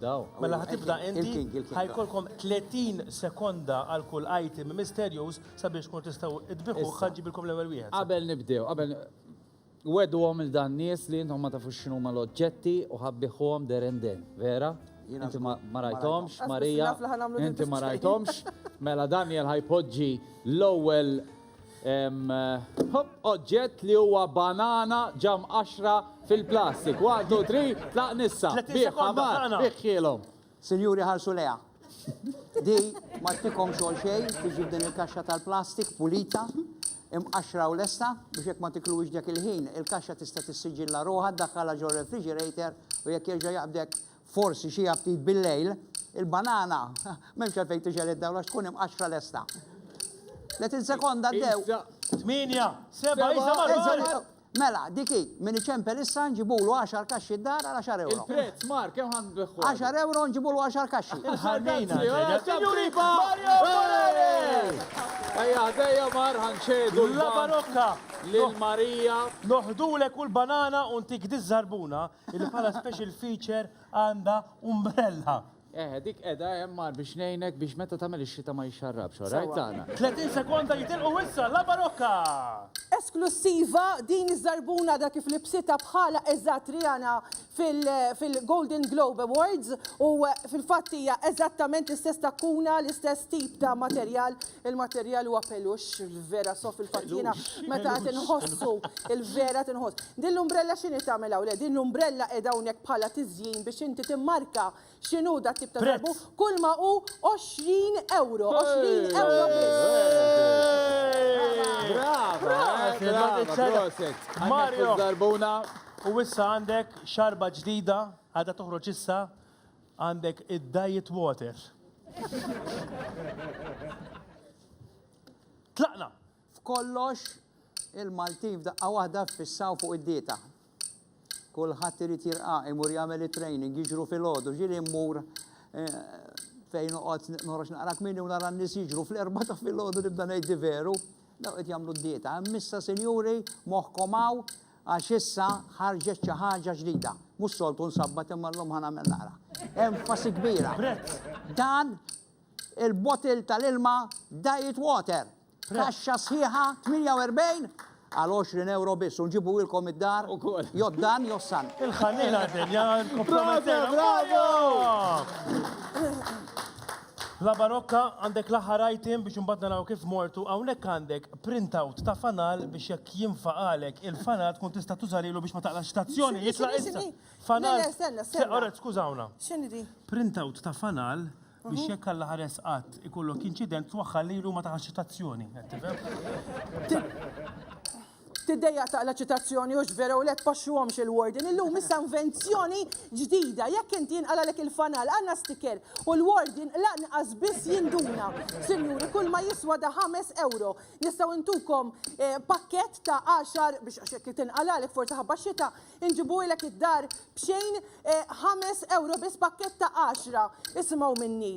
Mela ħa tibda inti, ħa jkollkom 30 sekonda għal kull item misterjuż sabiex tkunu tistgħu tbiħuh ħa ġġibilkom l-ewwel wieħed. Qabel nibdew, qabel Wegħduhom lil dan nies li intom ma tafux x'inhuma l-oġġetti u ħa bbiħuhom there and then, vera? Inti ma ma rajthomx, Marija, inti ma rajthomx, mela Daniel ħa jpoġġi l-ewwel Oġġett li huwa banana ġam qaxra fil-plastik. 1, 2, 3, tlaq nissa. Bih ħamar, bih xielhom. Sinjuri ħarsu leha. Di ma tikom xogħol xejn tiġi din il-kaxxa tal-plastik pulita imqaxra u lesta biex jekk ma tiklux dak il-ħin il-kaxxa tista' tissiġilla ruħha ddaħħalha ġo refrigerator u jekk jerġa' jaqbdek Forsi xi aptit bil-lejl. Il-banana m'hemmx għalfejn tixgħel id-dawl għax tkun imqaxxra lesta. Tletin sekonda għaddew. Issa. Tmienja, seba', isa Seba', marru għal. issa- Mela, dik hi, min iċempel issa nġibulu 10 kaxxi d-dar għal 10 euro. Il-prezz, Mark, kemm ħan beħħu? 10 euro nġibulu 10 kaxxi. Ħarnejna. ġejna. Sinjuri, Mario Bonelli! Ejja, ħdejja mar ħanċedu La l-bank barokka! lil Marija. Noħdulek u l-banana u ntik diż-żarbuna Illi bħala special feature għandha umbrella. Eħe, dik qeda hemm mar biex ngħinek biex meta tagħmel ix-xita ma jixxarrabx, all right tagħna. 30 sekonda jitilqu issa La Barocca! Esklussiva, din iż-żarbuna għadha kif libsitha bħala eżatt Rihanna fil-Golden Globe Awards u fil-fatt hija eżattament l-istess takkuna, l-istess tip ta' materjal Il-materjal huwa pelux, vera sof il-fatt jiena meta qed inħossu il-vera tinħoss. Din l-umbrella x'inhi tagħmel hawn? Le, din l-umbrella qiegħda hawnhekk bħala tiżjin biex inti timmarka x'inhu da tip ta' darbu kull ma hu 20 euro. 20 euro Mario! U issa għandek xarba ġdida għadha toħroġ issa Għandek id-diet water. Tlaqna! F'kollox, il-Maltin f'daqqa waħda ffissaw fuq id-dieta. Kulħadd irid jirqa' imur jagħmel it-training, jiġru filgħodu, ġieli mmur eh, fejn noqgħod noħroġ naqra kmieni u nara n-nies jiġru fl-erba' ta' filgħodu nibda ngħid veru. Daw qed jagħmlu d-dieta. Missa sinjuri, moħħkom hawn, Għax issa ħarġet xi ħaġa ġdida. Mhux soltu nsabbat imma llum ħa nagħmel naqra. Enfasi kbira. Dan il-bottle tal-ilma Diet Water. Kaxxa sħiħa 48 għal 20 euro biss, unġibu ilkom id-dar, joddan, jossan. Il-ħanina din, ja, kompromettera. Bravo! La barokka għandek l-aħħar item biex imbagħad naraw kif mortu hawnhekk għandek printout ta' fanal biex jekk jinfaqalek il-fanal tkun tista' tuża lilu biex ma taqlax stazzjoni jitla' issa. Fanal. Oret, skużawna. X'inhi di? Printout ta' fanal biex jekk Alla ħares qatt ikollok inċident twaħħal lilu ma taqax stazzjoni. Qed tifhem? Tiddejjaq taqla' ċitazzjoni u x'vera u le tpaxxuhomx il-warden illum issa invenzjoni ġdida, jekk inti jinqalagħlek il-fanal għandna sticker u l-ward jinqlaq nqas biss jinduna. Sinjuri kull ma jiswa da ħames ewro. Nistgħu ntukom pakkett ta' għaxar biex għax jekk tinqalagħlek forsi ħabba xita inġibuhilek id-dar b'xejn ħames ewro biss pakkett ta' għaxra. Isimgħu minni.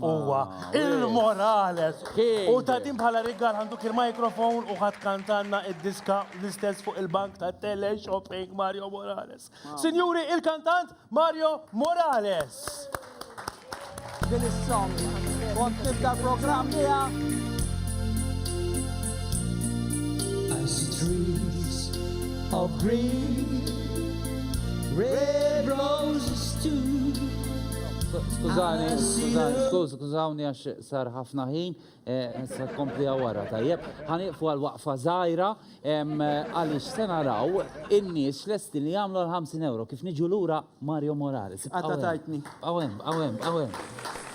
Uwa, il-Morales. U ta' din bħala rigal għandu kien mikrofon u ħad kantanna id-diska l-istess fuq il-bank ta' tele shopping Mario Morales. Sinjuri, il-kantant Mario Morales. Din is-song. Kont nibda l-programm biha. I see trees of green, red roses too. Skużani, skużani, skuż, skużawni għax sar ħafna ħin, eh, sa kompli għawara tajjeb. Ħaniqfu għal waqfa zaħira, għalix se naraw in-nies lesti li jagħmlu għal 50 euro kif niġu lura Mario Morales. Għadda tajtni. Għawem, għawem, għawem.